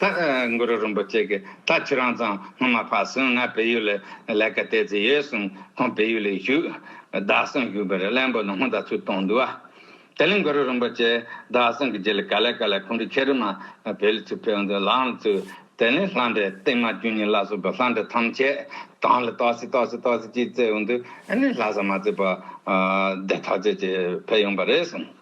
ཐག་མགོ་རུ་རིན་པོ་ཆེ་གིས་ད་ཁྱེད་རང་ཚང་སྔོན་མ་ཕར་སོང་ང་བལ་ཡུལ་ལ་ལས་ཀ་སྟེར་རྩིས་ཡོད་གསུངས་ཁོང་བལ་ཡུལ་ལ་བཞུགས། བདག་སང་བཞུགས་པར་གླེན་པོ་ནང་སྔོན་ད་ཚུར་གཏོང་འདུག་ཨ། དེ་ལས་མགོ་རུ་རིན་པོ་ཆེས་བདག་སང་གི་རྗེས་ལ་ག་ལས་ག་ལས་ཁོང་གྲོས་ཁྱེད་རིགས་མ་བལ་ལ་ཚུར་ཕེབས་འདུག་ལའང་ཚུར། དེ་ནས་ལྷ་འདྲེ་བསྟན་མ་བཅུ་གཉིས་བླ་སྲོག་གི་ལྷ་འདྲེ་ཐམས་ཅད་གང་ལ་ཏོག་སི་ཏོག་སི་ཏོག་སི་ཅིག་བཙལ་འོང་དུས་ཨ་ནི་ལྷ་ས་མ་བཙལ་བར་བདེ་ཐག་ཆོད་ཅིག་ཕེབས་ཡོང་པ་རེད་གསུངས།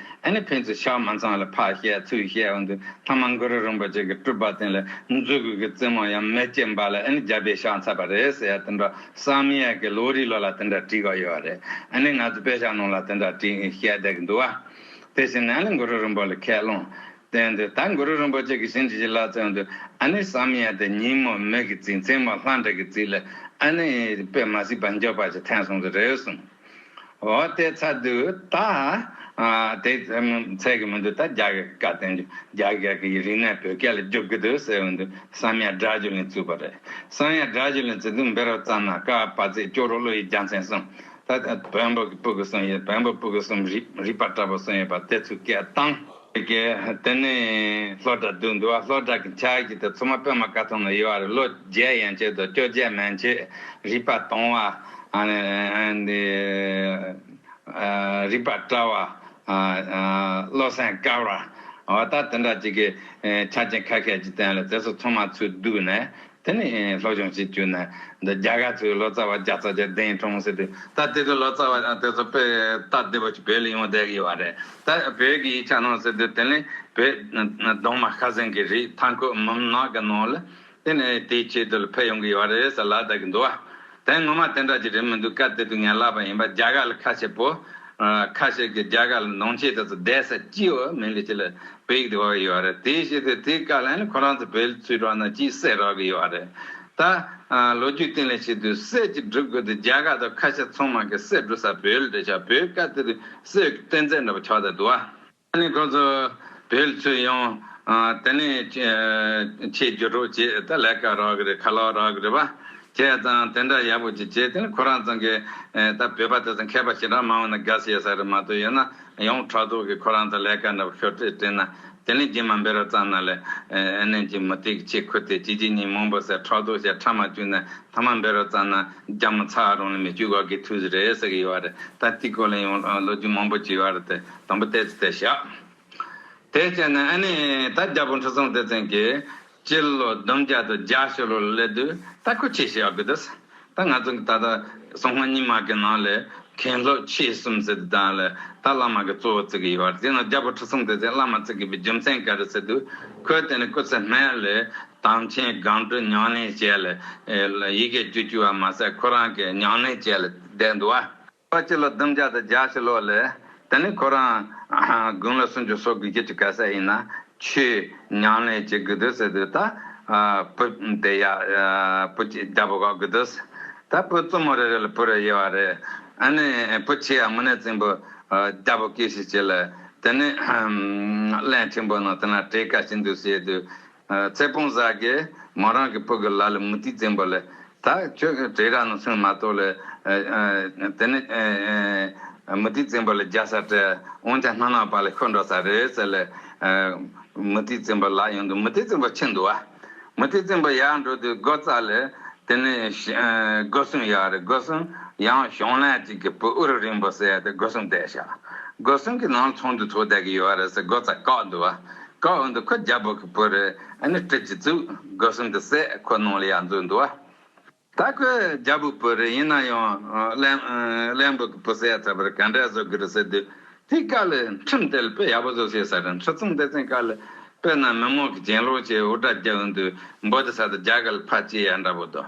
ཨེ་ནི་ཕན་ཚུན་ཕྱག་མ་ཚང་ལ་ཕག་ཞལ་ཚུལ་ཞལ་འོག་ཏུ་ཐ་མ་མགུ་རུ་རིན་པོ་ཆེ་གི་སྤྲུལ་པ་བསྟན་ལ་མཛོད་གུར་གྱི་རྩེ་མོ་ཡང་མེ་ལྕེ་འབར་ལ་ཨེ་ནི་རྒྱལ་པོའི་ཕྱག་འཚལ་བ་རེད་ཟེར་ཡ་དེ་འདྲ་བསམ་ཡས་ཀྱི་ལོ་རི་ལོ་ལ་དེ་འདྲ་བྲིས་པ་ཡོད་བ་རེད་ཨེ་ནི་ང་ཚོ་དཔེ་ཆ་ནང་ལ་དེ་འདྲ་བྲིས་ཞལ་བསྡད་ཀྱི་འདུག་བ། དེ་བཞིན་ནས་ཨེ་ནི་མགུ་རུ་རིན་པོ་ལ་ཁས་བླངས་བསྟན་ཏེ་ད་མགུ་རུ་རིན་པོ་ཆེ་གི་བྱིན་གྱིས་བརླབས་བརྩོན་དུ་ཨེ་ནི་བསམ་ཡས་དེ་ཉིན་མོ་མེད་ཀྱི་རྩིས་མཚན་མོ་ལྷ་འདྲེ་གི་རྩིས་ལ་ཨེ་ནི་དཔེ་མ་སྲིད་པ་འཇོག་པ་ཞིག་ཐན་སོང་གི་རེད་གསུངས། འོ་དེ་ཚ་དུས་ད་དེ་ཚད་ཀྱི་མི་འདུག་ད་རྒྱ་གར་གྱི་བཀའ་བསྟན་འཇུག་རྒྱ་གར་གྱི་རིག་གནས་བོད་སྐད་ལ་རྒྱོབ་ཀྱི་འདུག་ཟེར་འོན་ཏུ་བསམ་ཡས་སྒྲ་བརྗོད་ལན་བཙུགས་པ་རེད་བསམ་ཡས་སྒྲ་བརྗོད་ལན་བཙུགས་འདུག་འབེ་རོག་ཙམ་ན་ཀ་པ་ཚེ་སྐྱོ་རོག་བློ་ཡི་རྒྱ་མཚན་གསུམ་ད་བོན་པོ་གི་སྤུ་གི་གསུམ་ཡོད་བོན་པོ་སྤུ་གི་གསུམ་རིག་པ་བཀྲ་པོ་གསུམ་ཡོད་པ་དེ་ཚུལ་སྐད་བཏང། དེ་ནས་ལྷོ་བྲག་བདུད་འདུལ་བ་ལྷོ་བྲག་གི་ཕྱག་བཞི་དུ་ཚུར་མ་པདྨ་བཀའ་ཐང་ལ་ཡོད་པར་ལོ་བརྒྱད་ཡན་ཆད་དུ་བཅོ་བརྒྱད་མན་ཆད་རིག་པ་དྭངས་བ། རིག་པ་བཀྲ་བ། བློ་སེང་དཀར་བ། བ་དག་དེ་འདྲ་ཅིག་གིས་ཕྱག་ཆེན་ཁ་ཤས་ཀྱི་སྟེང་ལ་རྩེ་སོགས་ཚང་མ་ཚུར་བསྡུས་ནས་དེ་ནི་སློབ་སྦྱོང་བྱེད་རྒྱུ་ནི་འདི་རྒྱ་གར་ཚོའི་ལོ་ཙཱ་བ་བརྒྱ་རྩ་བརྒྱད་གདན་དྲོངས་ཟེར་དུས་ད་ལྟའི་དུས་ལོ་ཙཱ་བ་དེ་ཚོ་དཔེ་ལྟ་བདེ་པོ་ཞིག་བོད་ལ་ཡོང་བསྡད་ཀྱི་ཡོད་པ་རེད་ད་བོད་ཀྱི་ཡིག་ཆ་ནང་ཟེར་དུས་དེ་ནི་བོད་གདོང་མ་ཤ་ཟན་གྱི་རིགས་མཐའ་འཁོབ་མུན་ནག་གི་ནང་ལ་དེ་ནི་དེའི་ཆེད་དུ་ལ་ཕེབས་ཡོང་གི་ཡོད་པ་རེད་ཟེར་ལ་བསྡད་ཀྱི་འདུག་བ། དོན་ངོ་མ་དེ་འདྲ་ཅིག་རེད་མི་འདུག་སྐབས་དེ་དུས་ངས་ལབ་པ་ཡིན་པ་རྒྱ་གར་ལ་ཁ་ཆེ་པོ། ཁ་ཤས་ཀྱིས་རྒྱ་གར་ལ་འདོང་ཆེ་དེ་ཚོ་བསྡད་ས་ཅི་ཡོད་མིན་གྱི་ཆེད་ལ་བོད་ཡིག་དེ་བབས་ཡོད་རེད་དེའི་ཕྱིར་དེ་དེའི་བཀའ་ལན་ལ་ཁོ་རང་ཚོ་བོད་ཚུལ་དྲག་ན་ཅི་སེ་རག་གི་ཡོད་རེད། ད་ལོ་རྒྱུས་སྟེང་ལས་བྱེད་དུས་སེ་ཅིག་བསྒྲུབ་དགོས་དུས་རྒྱ་གར་དང་ཁ་ཤས་ཚོང་མང་གི་སེ་བསྒྲུབ་ས་བོད་ལ་འབྲེལ་ཆགས་བོད་སྐབས་དེ་དུས་སེའུ་གི་རྟེན་རྫས་འདྲ་པོ་ཆགས་ད་དུ་ཨ། ད་ནི་ཁོ་ཚོ་བོད་ཚུད་ཡོང། དེ་ནས་ཁྱེད་རྒྱུ་གྲོགས་ཀྱིས་ད་ལས་ཀ་རག་གི་རེད་ཁ་ལག་རག་གི་རེད་བ། ཁྱེད་ཚང་དེ་འདྲ་ཡག་པོ་ཅིག་བྱས་དེ་ནི་ཁོ་རང་ཚང་གི་ད་བོད་པ་དེ་ཚོ་མཁས་པ་ཞིག་འདྲ་མང་བོ་ན་དགའ་སེ་ཡོད་ས་རེད་མ་གཏོགས་ཡོད་ན་ཡོང་ཕྲག་དོག་གིས་ཁོ་རང་ཚང་ལས་ཀ་འདྲ་པོ་ཤོར་ཏེ་དྲན་ན་དེ་ནི་རྒྱུན་མ་འབེལ་རབས་ཙམ་ན་ལས་གནས་ཀྱི་མུ་སྟེགས་ཆེ་ཁུ་དེ་གཅིག་གཅིག་གཉིས་མང་པོ་ཟེར་ཕྲག་དོག་བྱས་ཕྲ་མ་བཅུག་ནས་ཐ་མ་འབེལ་རབས་ཙམ་ན་རྒྱ་མོ་ཚ་རང་ལ་མི་བཅུག་ག་གི་ཐུགས་རེད་ཟེར་གི་ཡོད་བ་རེད་ད་ཏིག་གོ་ལེན་ཡོང་ལོ་རྒྱུས་མང་པོ་བྱས་ཡོད་བ་རེད་དེ། དང་པོ་སྟེ་ཚེ་ཞག་དེ་བཅད་ནས་ཨ་ནི་ད་རྒྱལ་པོ་འཁྲུ་སོང་དེ་བཙན་གྱིས་སྤྱི་ལོ་བདུན་བརྒྱ་དང་བརྒྱ་ཞེ་ལོར་སླེབས་དུས་ད་ཁུ་ཆེ་ཞེས་ཨ་ཁུ་དེས་ད་ང་ཚོ་གི་ད་ད་སོང་ང་ཉི་མ་གི་ནང་ལས་མཁན་སློབ་ཆེ་གསུམ་ཟེར་དུས་ད་ལ་ད་བླ་མ་གི་གཙོ་བོ་བརྩི་གི་ཡོད་བར་དེ་ནང་རྒྱལ་པོ་འཁྲུ་སོང་དེ་བཙན་བླ་མ་བརྩི་གི་པའི་རྒྱུ་མཚན་ག་རེ་ཟེར་དུས་ཁོས་དེ་ནི་སྐུ་ཚེ་སྨད་ལས་དམ་ཆེན་སྒང་དྲུག་ཉང་ལེན་བྱས་ལ་ཡི་གེ་བཅུ་བཅུ་བ་མ་ཟད་ཁོ་རང་གི་ཉང་ལེན་བྱས་ལ་བསྡད་འདུག་བ། པ་སྤྱི་ལོ་བདུན་བརྒྱ་དང་གྱ་བཞི་ལོ་ལས། དེ་ནི་ཁོ་རང་དགུང་ལོ་སུམ་ཅུ་སོ་དགུ་བརྒྱད་ཅུ་ག་ས་ཡིན་ན། ཆུའི་མྱང་ལས་བྱེད་དགོས་དུས་སེ་དུས་ད་བུ་དེ་ཡ། བུ་གཅིག་རྒྱ་བོ་ག་དགོས་དུས། ད་བུ་བཙུན་མོ་རེ་རེ་ལ་བུ་རེ་དབྱེ་བ་རེད། ཨ་ནི་བུ་ཆེ་ཡ་མུ་ནེ་བཙན་པོ་རྒྱ་བོ་སྐད་ཤིག་བྱེད་ལ། དེ་ནི། གླན་ཆེན་པོ་ནང་དེ་ན་བྲེལ་དཀའ་ཞིག་འདུག་ཟེར་དུས། ཚེ་སྤོང་བཟའ་དགེ་མོ་རང་གི་བུ་གི་ལ་ལ་མུ་ཏིག་འཛིན་པ་ལས། ད་ཁྱོད་བྲེ་ར་ནོ་སུན་མ་ཏོ་ལས། དེ་ནས། མུ་ཏིག་འཛིན་པ་ལས་རྒྱ་སར་བྲེ་འོང་ཀྱང་སྣ་ནག་པ་ལས་ཁྱོད་འགྲོ་ས་རེད་ཟེར་ལས། མུ་ཏིག་འཛིན་པ་ལག་ཡོང་དུས་མུ་ཏིག་འཛིན་པ་ཁྱི་འདུག་ཨ། མུ་ཏིག་འཛིན་པ་ཡར་འགྲོ་དུས་སྒོ་བཙགས་ལས། དེ་ནས། སྒོ་སྲུང་ཡག་རེད་སྒོ་སྲུང་ཡང་གཞོང་ལན་གཅིག་གི་བུ་ཨུ་རུ་རིང་པོ་བསད་དེ་སྒོ་སྲུང་བསྡད་བཞག། སྒོ་སྲུང་གིས་ནང་ལ་ཚོང་འདུས་ཚོགས་བསྡད་ཀྱི་ཡོད་རེད་ཟེར་སྒོ་བཙགས་བཀག་འདུག་ཨ། བཀའ་བོད་འདི་ཁོ་རྒྱ་བོད་ཀྱི་བུ་རེད་ཨ་ནི་བཀྲིས་ཀྱི་གཙུག་དགའ་གསུམ་གྱི་སྲས་ཁོ་ནང་ལ་ཡར་འཛུལ་འདུག་ཨ། ད་ཁོ་རྒྱ་བོད་བུ་རེད་ཡིན་ན་ཡང་བླན་བོད་ཀྱི་བུ་ཟེར་ཡག་ཚར་བར་ག་འདྲ་བཟོ་གི་རེད་ཟེར་དུས་དེའི་བཀའ་ལས་ཁྲིམས་དེ་ལ་དཔེ་ཡག་པོ་བཟོ་ཤེས་ས་རེད་ཁྲི་ཚང་སྡེ་ཚན་བཀའ་ལས་དཔེ་ན་མི་མང་གི་གྱེན་ལོག་བྱས་འུར་སྒྲ་རྒྱག་འོས་འདུག་འབོ་དེ་ས་དེ་རྒྱ་གར་ལ་ཕར་སྐྱེལ་ཡག་འདྲ་བོ་འདུག་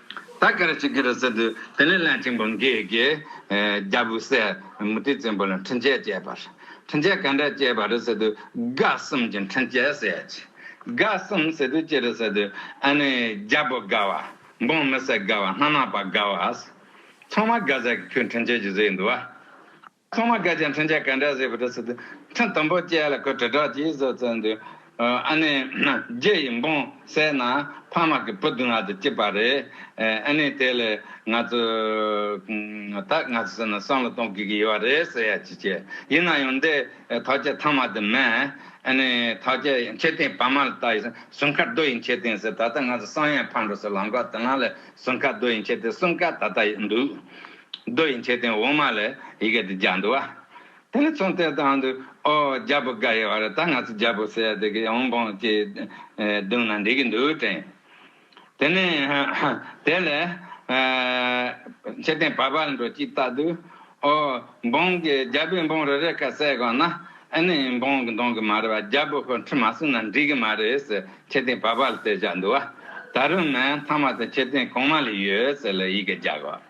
ད་ག་རེ་བྱེད་ཀྱི་རེད་ཟེར་དུས་དེ་ནས་བླ་ཆེན་པོ་འགས་ཀྱིས་རྒྱལ་པོ་སྲས་མུ་ཏིག་བཙན་པོ་ལ་འཕྲིན་བཅས་བཅས་པར། འཕྲིན་བཅས་ག་འདྲ་བཅས་པ་རེད་ཟེར་དུས་དགའ་གསུམ་གྱི་འཕྲིན་བཅས་ཟེར་ཡ་ཅི། དགའ་གསུམ་ཟེར་དུས་ཅི་རེད་ཟེར་དུས་ཨ་ནི་རྒྱལ་པོ་དགའ་བ། འབངས་མི་སེར་དགའ་བ་སྣ་ནག་པ་དགའ་བ། ཚང་མ་དགའ་ཟེར་གྱི་ཁྱོད་འཕྲིན་བཅས་ཀྱི་ཟེར་ཡི་འདུག་བ། ཚང་མ་དགའ་ཅིང་མཚོན་ཆ་ག་འདྲ་ཟེར་བ་འདྲ་ཟེར་དུས་ཁྲི་དང་པོ་བཅས་ལ་ཁོས་དྲིལ་བསྒྲགས་ཀྱིས་བཟོ་བཙལ་འདུག་ཨ་ནེ། རྒྱལ་ཡིས་འབུངས་གསལ་ན་ཕ་མ་གི་བུ་བདུན་ལ་དེ་སྐྱིད་པ་རེད། ཨ་ནེས་དེ་ལས་ང་ཚོ། ད་ང་ཚོ་ཟེར་ན་བསམ་བློ་གཏོང་དགོས་ཀྱི་ཡོད་བ་རེད་ཟེར་ཡ་ཅི་བྱེད། ཡིན་ན་ཡང་འདི་ཐག་ཆད་ཐང་མ་དེ་མེད། ཨ་ནེ། ཐག་ཆད་ཡང་ཁྱེད་ཐེངས་བར་མ་ལ་ལྟ་ཡིན་ཟུར་མཁར་རྡོ་ཡིན་ཁྱེད་ཐེངས་ཟེར་ད་ལྟ་ང་ཚོ་བསམ་ཡས་ཕར་འགྲོ་སའི་ལམ་ཁ་དེ་ན་ལས་ཟུར་མཁར་རྡོ་ཡིན་ཁྱེད་ཐེངས་གསུམ་ཀ་ད་ལྟ་ཡོད་འདུག། རྡོ་ཡི་མཆོད་རྟེན་འོག་མ་ལ་ཡི་གེ་འདི་བརྒྱ་འདུ་བ། དེ་ནས་ཚོན་གཏེར་དང་དུ་ཨོ་རྒྱལ་པོ་འགའ་ཡི་བར་ད་ང་ཚོ་རྒྱལ་པོ་སྲས་དེ་གི་ཡོང་འབངས་ཀྱི་གདུང་ན་འདི་གི་འདུ་བྲན། དེ་ནས་དེ་ལས་མཆོད་རྟེན་བར་བར་འགྲོ་གཅིག་བཏགས་དུ་ཨོ་འབངས་ཀྱི་རྒྱལ་པོའི་འབངས་རེ་རེ་ཁ་གསལ་གང་ན་ཨེ་ནི་འབངས་ཀྱི་གདོང་གི་མ་རེད་བ་རྒྱལ་པོ་ཁོ་ཁྲི་མ་བསུ་ན་འགྲིག་གི་མ་རེད་ཟེར་མཆོད་རྟེན་བར་བར་ལ་དེ་བཞག་འདུ་བ། ད་རུང་མེད་མཐའ་མ་དེ་མཆོད་རྟེན་གོང་མ་ལ་ཡོད་ཟེར་ལ་ཡི་གེ་རྒྱག་བ།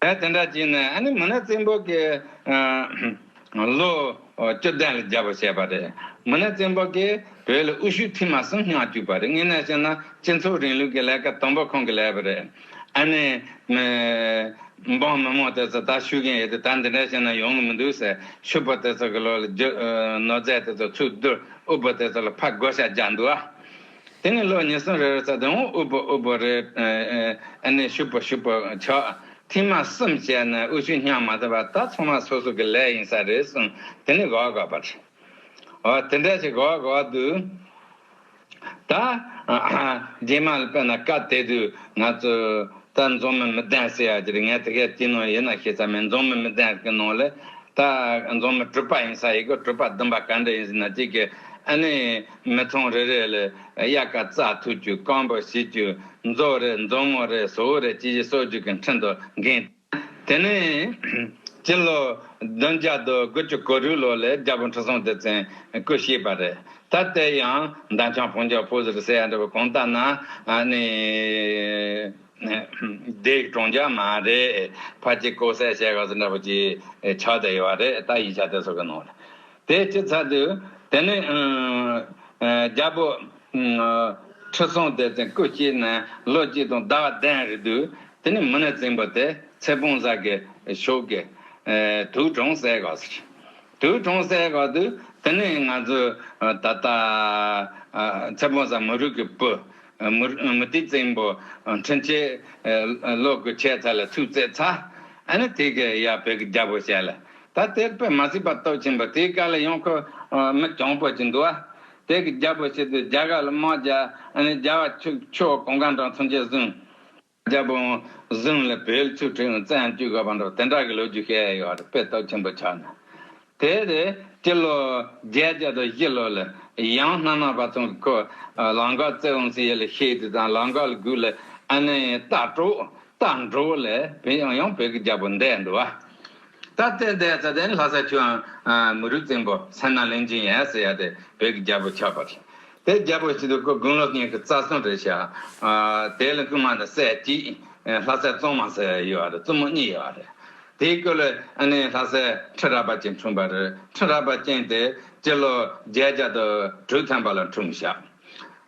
ཨེ་དེ་འདྲ་བྱས་ནས་ཨ་ནི་མི་ནག་བཙན་པོ་གི་ལོ་བཅུ་བདུན་ལ་རྒྱལ་པོ་བྱས་པ་རེད། མི་ནག་བཙན་པོ་གིས་བོད་ལ་དབུ་ཤུགས་ཐིམ་མ་གསུམ་མངགས་བཅུག་པ་རེད་དངོས་གནས་བཤད་ན་སྤྱི་ཚོགས་རིང་ལུགས་ཀྱི་ལས་ཀ་དང་པོ་ཁོང་གིས་ལས་པ་རེད། ཨ་ནི་མི་འབངས་མི་མང་དེ་ཚོ་ད་ཤུལ་མཁན་ཡོད་དུས་ད་འདི་འདྲ་བྱས་ན་ཡོང་གི་མི་འདུག་ཟེར་ཤུལ་པོ་དེ་ཚོ་གི་ལོ་ལ་རྒྱུ་ནོར་རྫས་དེ་ཚོ་ཚུར་བསྡུར་དབུལ་པོ་དེ་ཚོ་ལ་ཕར་བགོ་བཤའ་རྒྱག་འདུག་ཨ། དེ་ནས་ལོ་ཉི་གསུམ་རེར་རྩ་དོན་འོག་དབུལ་པོ་དབུལ་པོ་རེ་ནས་ཞུགས་པ་ཞུགས་པར་ཆོག་ཐེངས་མ་གསུམ་བྱས་ན་དབུལ་ཞུགས་སྙམ་མ་ཐུབ་པ་ད་ཚང་མ་སོ་སོ་གི་ལས་ཡིན་ས་རེད་གསུང་དེ་ནས་དགའ་བ་དགའ་བར། ཨོ་དེ་འདྲ་ཞིག་དགའ་བ་དགའ་བ་འདུག། ད། རྗེས་མ་ལ་བལྟས་ན་སྐབས་དེ་དུས་ང་ཚོས་ད་རྫོང་མི་མི་ལྡན་ཟེར་ཡ་ཀྱི་རེད་ངས་དེ་གའི་དུས་ནང་ཡིན་ན་ཤེས་ཚར་མེད་རྫོང་མི་མི་ལྡན་གི་ནང་ལ་ད་རྫོང་མི་དྲུག་པ་ཡིན་ས་ཡི་གི་དྲུག་པ་བདུན་པ་ག་འདྲ་ཡིན་ཟེར་ན་ཅིག་གི་ཨ་ནི། མི་ཚང་རེ་རེ་ལས་དབྱར་སྐར་རྩ་ཐུག་རྒྱུ་རྐང་པར་བྱེད་རྒྱུ་མཛོ་རེ་མཛོ་མོ་རེ་ཟོ་བོ་རེ་ཅི་བྱེད་གསོག་རྒྱུ་གི་འཕྲིན་དུ་འགན། དེ་ནས་སྤྱི་ལོ་བདུན་བརྒྱ་དང་དགུ་བཅུ་གོ་དྲུག་ལོ་ལས་རྒྱལ་པོ་འཕྲུལ་སྲུང་སྡེ་ཚན་སྐུ་གཤེགས་པ་རེད། ད་ལྟའི་ཡང་འདམ་ཆང་བོང་རྒྱ་ཕོ་ཟེར་ཟེར་ཡ་འདྲ་བོ་གང་ལྟར་ན་ནི། སྡེ་གྲོང་རྒྱ་མ་རེ་ཕ་སྐྱིད་ཀོ་སེ་ཞེས་ག་ཟེར་འདྲ་བོ་ཅིག་ཆགས་བསྡད་ཡོད་པ་རེད་ད་ཡིག་ཆ་དེ་ཚོ་གི་ནང་ལ། དེའི་སྤྱི་ཚགས་དུ། དེ་ནས། རྒྱལ་པོ། ཁྲི་སྲོང་དེ་བཙན་སྐུ་སྐྱེས་ནས་ལོ་གཅིག་དང་ཟླ་བ་གདན་རེ་འདུག་དེ་ནས་མི་ནས་བཙན་པོ་དེ་ཚེ་སྤོང་བཟའ་དགའི་ཕྱོགས་ཀྱི། དུག་གྲོང་སའི་ག་ས་ཆེ། དུག་གྲོང་སའི་ག་དུ། དེ་ནས་ང་ཚོ། ད་ལྟ། ཚེ་སྤོང་བཟའ་མི་རུ་ཀྱི་བུ། མི་ཏི་བཙན་པོ། འཕྲིན་ཆེ། ལོ་དགུ་ཆད་ཚ་ལ་ཐུག་བརྩེགས་ཚ། ཨ་ནི་དེ་གའི་ཡ་བེ་གི་རྒྱལ་པོ་བྱས་ལ། ད་དེར་པད་མ་སྲིད་པ་སྟོབས་ཆེན་པོ་དེའི་བཀའ་ལ་ཡང་ཁོ་མི་གྱང་པོ་ཅིག་འདུག་ཨ། དེ་གི་རྒྱལ་པོ་ཤི་དུས་རྒྱལ་ཁ་ལ་དམག་རྒྱ། རྒྱལ་བ་ཁྱོད་ཀྱི་གོང་གང་དྲང་མཚོན་ཆས་བཟུང། རྒྱལ་པོ་བཟུང་ལ་བེལ་ཆུ་ཁྲི་ཡང་བཙལ་ཡང་བསྐྱུར་དགོས་པར་འགྲོ་དེ་འདྲ་གི་ལོ་རྒྱུས་ཤེས་ཡོད་རེད་པས་སྟོབས་ཆེན་པོ་ཆགས་ན། དེ་རེད་སྤྱི་ལོ་བརྒྱད་བརྒྱ་དང་བཞི་ལོ་ལ་ཡང་སྣ་མང་བ་ཚང་གི་ཁོ་ལང་ཀར་བཙལ་འོང་ཟིན་ཡོད་ལ་ཤེས་དུས་དང་ལང་ཀ་ལ་སྒུག་ལ་ཨ་ནི་རྟ་བྲོ་རྟ་འགྲོ་ལ་བེལ་ཡང་ཡང་བེལ་གི་རྒྱལ་པོ་འདས་འདུག་ཨ། ད་ལྟའི་འདས་རྩ་ལྡན་ལྷ་སར་ཆུའང་མི་རུ་བཙན་པོ་སེམས་ནང་ལིང་ཅིང་ཡལ་སེ་ཡལ་ཏེ་བོད་ཀྱི་རྒྱལ་པོ་ཆགས་པ་རེད། དེ་རྒྱལ་པོ་ཞིག་ཏུ་དགུང་ལོ་གཉིས་ཀྱི་རྩ་སྲུང་རེད་བྱས། དེའི་ལ་སྐུ་མ་ནི་སྲས་གཅིག་ལྷ་སའི་བཙུན་མ་ཟེར་ཡོད་བ་རེད་བཙུན་མོ་གཉིས་ཡོད་བ་རེད། དེའི་སྐུ་ལ་ཨ་ནེ་ལྷ་སའི་ཁྲི་རལ་པ་ཅན་འཁྲུངས་པ་རེད་ཁྲི་རལ་པ་ཅན་དེ་སྤྱི་ལོ་བརྒྱད་བརྒྱ་དང་དྲུག་ཐམ་པ་ལ་འཁྲུངས་ཤག་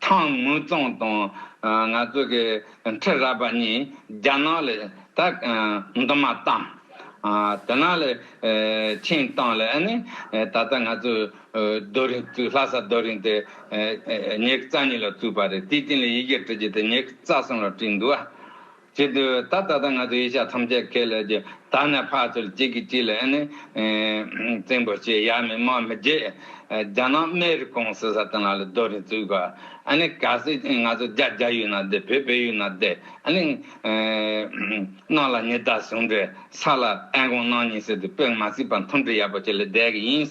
ཐང་དམུ་རྫོང་དང་ང་ཚོ་གི་ཁྲི་རལ་པ་གཉིས་རྒྱ་ནག་ལས་ད་འདུ་མ་བཏང། དེ་ནང་ལས་ཆིངས་བཏང་ལས་ནི་ད་ལྟ་ང་ཚོ་རྡོ་རིང་བཙུགས་ལྷ་ས་རྡོ་རིང་དེ་ཉེག་རྩ་གཉིས་ལ་བཙུགས་པ་རེད་དེའི་སྟེང་ལས་ཡི་གེ་བྲི་རྒྱུ་དེ་ཉེག་རྩ་གསུམ་ལ་བྲིས་འདུག་ཨ། ཅི་འདི་བས་ད་ད་ལྟ་ང་ཚོ་ཡེ་ཤ་ཐམས་ཅད་ཁས་ལས་ཀྱི་ད་ནས་ཕར་ཚུར་གཅིག་གིས་གཅིག་ལ་ནི་བཙན་པོ་ཞེས་ཡ་མི་མ་མི་རྗེས་རྒྱ་ནག་རྨེ་རི་ཀོང་སི་ས་ཏི་ན་ལ་རྡོ་རིང་བཙུགས་པ་ནི་ག་སི་ང་ཚོ་རྒྱ་རྒྱ་ཡུལ་ན་བསྡད་བོད་བོད་ཡུལ་ན་བསྡད་ནི་གནང་ལ་ཉི་ཟླ་ཟུང་འབྲེལ་ས་ལ་ཨན་ཀོང་གནང་ཉིན་སི་ཏི་པོས་ང་སི་པ་མཐུན་སྒྲིལ་ཡག་པོ་བྱེད་ལ་བསྡད་གི་ཡིན།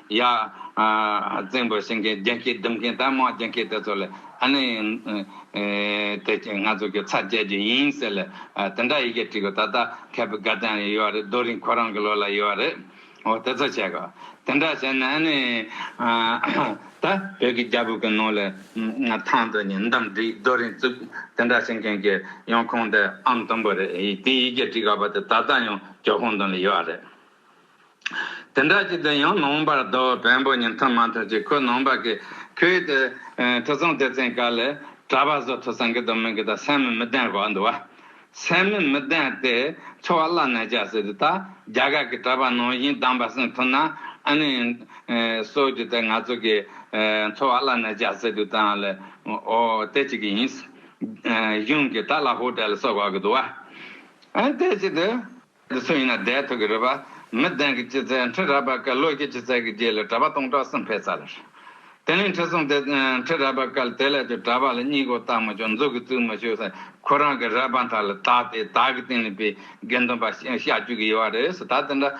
ཡ། བཙན་པོ་བྱིན་མཁན་རྒྱན་སྐྱེས་བསྡུ་མཁན་དང་མང་རྒྱན་སྐྱེས་དེ་ཚོ་ལ། ཨ་ནི། དེ་ང་ཚོ་གི་ཚ་བཅད་རྒྱུ་ཡིན་ཟེར་ལ། དེ་འདྲ་ཡི་གེ་བྲིས་གོ་ད་ལྟ་མཁས་པའི་སྒར་རྐྱང་ཡོད་རེད་རྡོ་རིང་ཁོ་རང་གི་ལོ་ལ་ཡོད་རེད། འོ་དེ་ཚོ་བྱས་གོ། དེ་འདྲ་བྱས་ན་ཨ་ནི། ད་བོད་ཀྱི་རྒྱ་བོད་ཀྱི་ནང་ལ། ཐང་དུ་ཉིན་འདམ་བྲིས་རྡོ་རིང་བཙུགས་དེ་འདྲ་བྱེད་མཁན་གྱི་ཡང་ཁོང་དེ་ཨམ་སྟོང་པོ་རེད་དེའི་ཡི་གེ་བྲིས་ག་པ་དེ་ད་ལྟ་ཡང་ཇོ་ཧོང་དང་ལ་ཡོད་རེད། དེ་འདྲ་ཞིག་དུ་ཡང་ནང་པར་རྡོ་བོན་པོ་ཉིད་མཐུན་མ་མཐུན་ཅིག་ཁོས་ནང་པ་གི་ཁོའི་དེ་ཐོས་བསམ་སྡེ་ཚན་ག་ལས་གྲྭ་པ་བཟོ་ཐུབ་སང་གི་དོ་མི་གི་དང་སེམས་མི་བདེན་རོགས་འདུག་བ། སེམས་མི་མི་བདེན་དེ་འཚོ་བ་བླ་ནས་བྱ་སྲིད་དུ་ད་རྒྱ་གར་གི་གྲྭ་པ་ནང་བཞིན་གདམས་པ་སེང་ཐུབ་ན་ཨ་ནི་སོ་རྒྱུ་དེ་ང་ཚོ་གི་འཚོ་བ་བླ་ནས་བྱ་སྲིད་དུ་ད་ལས་འོ་དེ་ཅིག་གི་ཡིན། གཞུང་གི་ད་ལ་ཧོ་ཏེ་ལ་སོགས་ག་གི་འདུག་བ། དེ་ཅིག་དུ། འདི་སུ་ཡིན་ན་བརྡའི་ཐུགས་ཀྱི་རུས་པ། མི་ལྡན་གྱི་སྐྱི་རྩེ་འཁྲིད་རལ་པ་བསྐལ། ལོ་སྐྱིད་ཀྱི་ཚལ་གྱི་རྗེས་ལས་གྲྭ་པ་སྟོང་ཕྲག་སུམ་བྷས་ཚར། བརྟན་ལྷིང་ཁྲི་སྲོང་དེ་འཁྲིད་རལ་པ་བསྐལ། དེ་ལས་ཀྱི་གྲྭ་པ་ལ་སྙིང་དགོངས་བརྟག་མི་ཆོག་འཛུགས་ཀྱི་ཚུལ་མི་ཤེས་ས། ཁོ་རང་གི་རལ་པ་མཐའ་ལ་བཏགས་ཏེ་བདག་གི་སྟེང་ནས་པའི་དགེ་འདུན་པ་བཤའ་བཅུག་གི་ཡོད་བ་རེད་ཟེར་ད་དེ་འདྲ་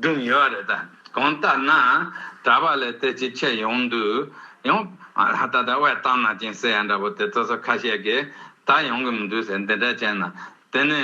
བསྒྲུབས་ཡོད་བ་རེད་ད། གང་ལྟར་ན། གྲྭ་པ་ལས་དེ་ཅིག་ཁྱེར་ཡོང་འདུག་ཡང། ད་ལྟ་དབལ་རྟ་ནག་ཅིང་སེ་ཡ་འདྲ་པོ་དེ་ཚོ་སོ་ཁ་ཤས་ཀྱིས་ད་ཡོང་གི་མི་འདུག་ཟེར་འདི་འདྲ་བྱས་ན། དེ་ནི།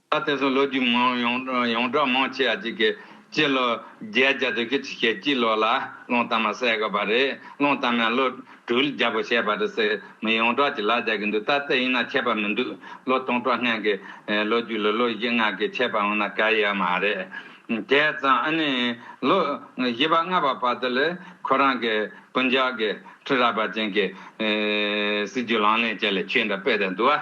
ད་དེང་སང་ལོ་རྒྱུས་མང་ཡོངས་གྲགས་མང་ཆེ་བ་ཅིག་གིས་སྤྱི་ལོ་བརྒྱད་བརྒྱ་དོན་གྱི་ཆུ་ཤེལ་སྐྱིད་ལོ་ལ་སློང་རྟ་མ་བསད་དགོས་པ་རེད་སློང་རྟ་མས་ལོ་དྲུག་ལ་རྒྱབ་པོ་བྱས་པ་རེད་ཟེར་མི་ཡོངས་གྲགས་ཀྱིས་ལག་རྒྱག་གི་འདུག་ད་ལྟ་ཡིན་ན་ཆད་པ་མི་འདུག་ལོ་སྟོང་ཕྲག་ལྷན་གྱི་ལོ་རྒྱུས་ལ་ལོ་བཞི་ལྔ་གི་ཆད་པ་འོང་ན་ག་ཡི་ཡ་མ་རེད། དེས་ཙང་ཨ་ནི་ལོ་བཞི་པ་ལྔ་པ་བར་དུ་ལ་ཁོ་རང་གི་སྤུན་ཆགས་ཀྱི་ཁྲི་རལ་པ་ཅན་གྱི་སྲིད་ཇུས་ལག་ལེན་བྱས་ལ་ཆོས་འདྲ་སྤེལ་ཏེ་འདུག་ཨ།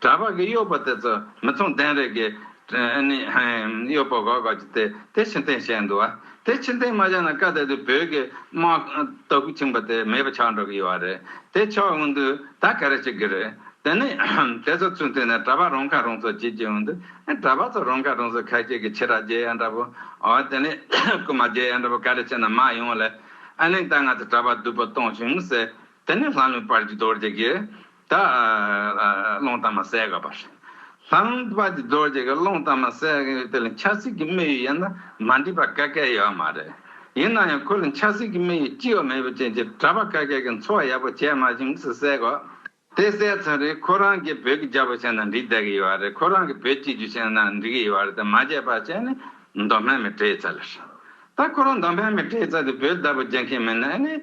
གྲྭ་བ་གི་གཡོག་པོ་དེ་ཚོ་མི་མཚུངས་ལྡན་རེ་གི། ནི། གཡོག་པོ་གོ་ག་ཅིག་དེ་དེ་ཕྱི་འཐེན་བྱས་འདུག་བ། དེ་ཕྱི་འཐེན་མ་བྱས་ན་ཀ་ད་དུས་བོད་ཀྱི་དམག་དོ་གུ་ཆིངས་པ་དེ་མེད་པ་ཆགས་འགྲོ་གི་ཡོད་བ་རེད་དེ་ཆོག་འོན་དུས་ད་ག་རེ་བྱེད་གི་རེད་དེ་ནི། དེ་ཚོ་ཚུན་དུས་ནས་གྲྭ་བ་རང་ཁ་རང་གསོ་བྱེད་ཀྱི་འོན་དུས་གྲྭ་བ་ཚོ་རང་ཁ་རང་གསོ་ཁ་ཤས་ཀྱི་ཕྱི་ར་རྗེ་ཡ་འདྲ་བོ། དེ་ནི། རྐུ་མ་རྗེ་ཡ་འདྲ་བོ་ག་རེ་བྱས་ན་མ་ཡོང་ལེ། ཨ་ནིང་ད་ང་ཚོ་གྲྭ་བ་བསྡུ་བོ་གཏོང་བྱུང་ཟེར་དེ་ནི་ལྷ་ལུང་པར་གྱི་རྡོ་རྗེ་གིས། དག། ཀློང་གཏམ་མ་གསལ་ག་པར། ལྷང་པ་ཀྱི་རྡོ་རྗེ་གི་ཀློང་གཏམ་མ་གསལ་ག་ཡོད་དེ་ལ་འཆར་སྲིད་ཀྱི་མེ་ཡོད་ཡིན་ན་མ་འདྲིས་པ་ཀ་ཀའི་ཡོད་མ་རེད། ཡིན་ན་ཡང་ཁོ་ལ་འཆར་སྲིད་ཀྱི་མེ་ཡོད་ཅི་ཡོད་མེད་པ་ཅན་གྱི་གྲྭ་པ་ཀ་ཀའི་གི་འཚོ་བ་ཡག་པོ་བྱས་མ་བྱུང་ཟེར་སྲིད་གོ། དེ་གསལ་ཚར་རིང་ཁོ་རང་གིས་བོད་ཀྱི་རྒྱ་པོ་བྱས་ན་འགྲིག་བསྡད་ཀྱི་ཡོད་རེད་ཁོ་རང་གིས་བོད་སྤྱི་རྒྱུ་བྱས་ན་འགྲིག་གི་ཡོད་རེད་དེ་མ་བྱས་པ་བྱས་ནས་མདོ་སྨད་མི་བྲེལ་ཚར། ད་ཁོ་རང་མདོ་སྨད་མི་བྲེལ་ཚར་དེ་བོད་བདག་པོ་བྱེད་མཁན་མིན་ན་ཨེ་ནས།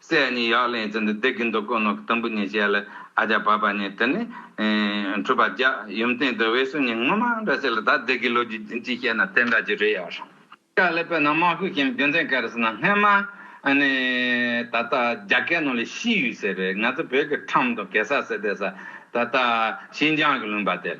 སྲས་གཉིས་ཡག་ལེན་ཙི་འདི་བདེ་གི་འདུག་དཀོན་ནོ་གི་དུམ་བུ་གཉིས་བྱས་ལ་ཨ་ཅག་བབས་པ་གཉིས་དེ་ནས་འཁྲུལ་པ་རྒྱག་ཡུམ་སྟེང་དུ་དབལ་སུ་གཉིས་སྔོན་མ་འདྲ་བྱས་ལ་ད་བདེ་གི་ལོ་རྒྱུས་འཛིན་གྱིས་བཤད་ན་དེ་འདྲ་གྱི་རེད་ཡ་ཧྲ། ཀ་ལེ་པོ་ནང་དམག་ཁུལ་གྱིམ་རྒྱུ་མཚན་ག་རེ་ཟེར་ན་སྔན་མ་ཨ་ནི་ད་ལྟ་རྒྱ་སྐད་ནང་ལས་ཤི་ཡུལ་ཟེར་བས་ང་ཚོ་བོད་ཀྱི་ཁྲམ་དང་གེ་སར་ཟེར་དེ་ས་ད་ལྟ་ཤིན་ཅང་གི་ལུང་པ་དེ་ལ་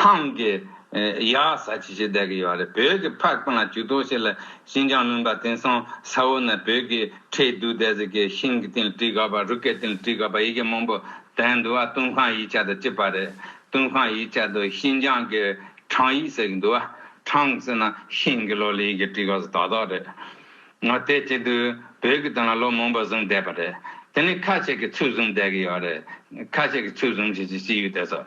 ཐང་གི་ཡ་ས་ཆེ་ཆེ་བསྡད་ཀྱི་ཡོད་རེད་བོད་ཀྱི་ཕ་རྐང་ལ་ཇུས་ཏོག་བྱེད་ལ་ཤིན་ཅང་མིན་པ་དེང་སང་ས་འོག་ན་བོད་ཀྱི་ཁྲལ་བསྡུ་བསྡད་ཟེར་གྱི་ཤིང་གི་སྟེང་ལ་བྲིས་དགའ་བ་རུ་སྐའི་སྟེང་ལ་བྲིས་དགའ་བ་ཡི་གེ་མང་པོ་དྲན་འདུག་ཨ་ཏུན་ཁང་ཡིག་ཆ་དང་བཅས་པ་རེད་ཏུན་ཁང་ཡིག་ཆ་དུ་ཤིན་ཅང་གི་ཁྲང་ཡིག་ཟེར་གྱི་འདུག་ཨ་ཁྲང་ཟེར་ན་ཤིང་གི་ལོ་ལ་ཡི་གེ་བྲིས་དགའ་ས་དག་དག་རེད་ང་བལྟས་བྱས་དུས་བོད་ཀྱི་སྟེང་ལ་ལོ་མང་པོ་བཟུང་བསྡད་པ་རེད་དེ་ནས་ཁ་ཆེ་གི་ཚུལ་བཟུང་བསྡད་ཀྱི་ཡོད་རེད་ཁ་ཆེ་གི་ཚུལ་བཟུང་བྱས་ཅི་ཡོད་བལྟས་ས།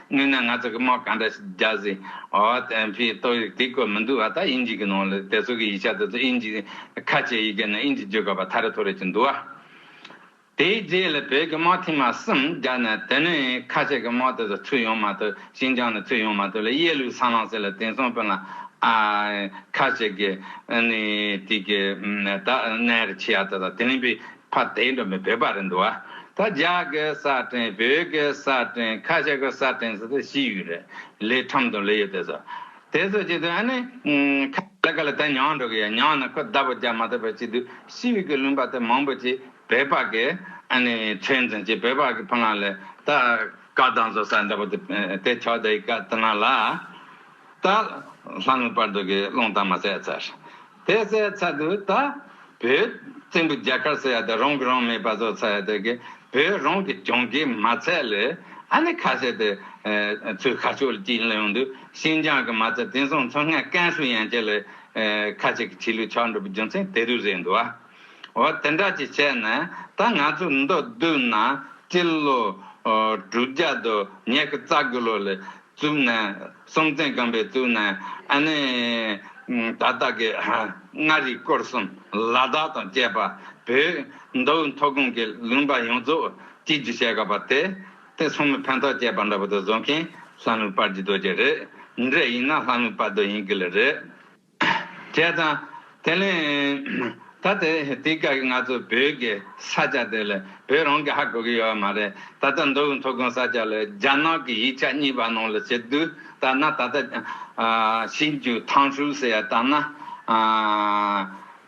དངོས་གནས་ང་ཚོ་གི་དམག་ག་འདྲ་ཞིག་རྒྱག་ཟིན་ཨོ་དེ་ཕིའི་ཏོག་ཡིག་དེ་བཀོད་མི་འདུག་ཨ་ད་ཨིན་ཇི་གི་ནང་ལ་དེ་ཚོ་གི་ཡིག་ཆ་དེ་ཚོ་ཨིན་ཇི་ཁ་ཆེ་ཡི་གེ་ནང་ཨིན་ཇི་བརྗོད་དགོས་པ་ཐ་རེ་ཐོ་རེ་ཅིག་འདུག་ཨ། དེའི་རྗེས་ལ་བོད་ཀྱི་དམག་ཐེངས་མ་གསུམ་རྒྱག་ནས་དེ་ནས་ཁ་ཆེ་གི་དམག་དེ་ཚོ་ཚུད་ཡོང་མ་ཐུབ་ཤིན་ཅང་ནས་ཚུད་ཡོང་མ་ཐུབ་ལ་གཡས་ལུག་སངས་ལང་སེ་ལ་དེང་སང་བོན་ལ་ཨ་ཁ་ཆེ་གི་ཨ་ནི་དེ་གི་ད་གནས་རེ་ཆི་ཡ་ད་ད་དེ་རིང་བི། ཕ་དེ་འདྲ་མི་བོད་པ་རེད་འདུག་ཨ། ད་རྒྱ་གི་ས་སྟེང་བོད་གི་ས་སྟེང་ཁ་ཤ་གི་ས་སྟེང་ཟེར་ཚོད་ཤི་ཡོད་རེད་ལས་ཁྲམ་དང་ལས་ཡོད་དེ་ཚོ། དེ་ཚོ་བྱས་དུས་ཨ་ནི། ཁ་ལ་ཁ་ལ་དེ་མྱང་འགྲོ་གི་ཡ་མྱང་ན་ཁོ་བདའ་བོ་རྒྱག་མ་ཐུབ་པ་བྱས་དུས་ཤི་ཡོད་གི་ལུང་པ་དེ་མང་པོ་ཅིག་བོད་པ་གི་ཨ་ནི་ཚོད་འཛིན་བྱས་བོད་པ་གི་ཕ་ངང་ལས་ད་བཀའ་གདང་ཚོ་ས་འདྲ་པོ་དེ་དེ་ཆོག་དེ་ཡི་བཀའ་དེ་ང་ལ་ད་ལྷ་ངོ་པར་འདུག་གི་སློང་དང་མ་ཟད་ཚར། དེ་སའི་ཚ་དུ་ད། བོད། བཙན་པོ་རྒྱ་གར་སོ་ཡ་དེ་རང་གི་རང་མེད་པ་བཟོ་ཚ་ཡ་དེ་གི། བོད་རང་གི་གྱོང་གི་མ་ཚད་ལས། ཨ་ནི་ཁ་ཤས་དེ། ཚོའི་ཁ་ཕྱོགས་ལ་ཅིག་ལ་ཡོང་དུས་ཤིན་ཅང་གི་མ་ཚད་དེང་སང་མཚོ་སྔ་ཀན་སུའུ་ཡན་ཆད་ལ། ཁ་ཅིག་གི་ཁྲི་ལུགས་ཆགས་འགྲོ་པའི་རྒྱུ་མཚན་དེ་རུ་རེད་འདུག་བ། འོ་དེ་འདྲ་ཅིག་བྱས་ན་ད་ང་ཚོ་མདོ་བསྡུ་ན་སྤྱི་ལོ། དྲུག་བརྒྱ་དུ་ཉེ་གི་རྩ་དགུ་ལོ་ལས། གཙུག་ན་སྲོང་བཙན་སྒམ་པོའི་གཙུག་ན་ཨ་ནེ། ད་ལྟ་གི་མངའ་རིས་སྐོར་གསུམ་ལ་དྭགས་དང་བཅས་པ་བོད་མདོ་དབུས་མཐོ་སྒང་གི་ལུང་པ་ཡོངས་རྫོགས་སྤྱི་རྒྱུ་བྱས་དགོས་པ་དེ་དེ་སོང་མི་ཕན་ཐོགས་བྱས་པ་འདྲ་པོ་དེ་བཟོ་མཁན་ལྷ་མོའི་པར་གྱི་རྡོ་རྗེ་རེད་འདྲེ་ཡིན་ན་ལྷ་མོའི་པར་རྡོ་ཡིན་གི་ལ་རེད། བྱས་ཙང། དེ་ནི། ད་དེ་དུས་སྐབས་ཀྱི་ང་ཚོ་བོད་ཀྱི་ས་ཆ་དེ་ལས་བོད་རང་གི་ཧ་གོ་གི་ཡོད་བ་མ་རེད། ད་ལྟ་མདོ་དབུས་མཐོ་སྒང་ས་ཆ་ལས་རྒྱ་ནག་གི་ཡིག་ཆ་གཉིས་པ་ནང་ལ་བྱེད་དུས་ལྟར་ན་ད་ལྟ། ཞིབ་འཇུག་ཐང་ཧྲུལ་ཟེར་ཡ་ལྟར་ན།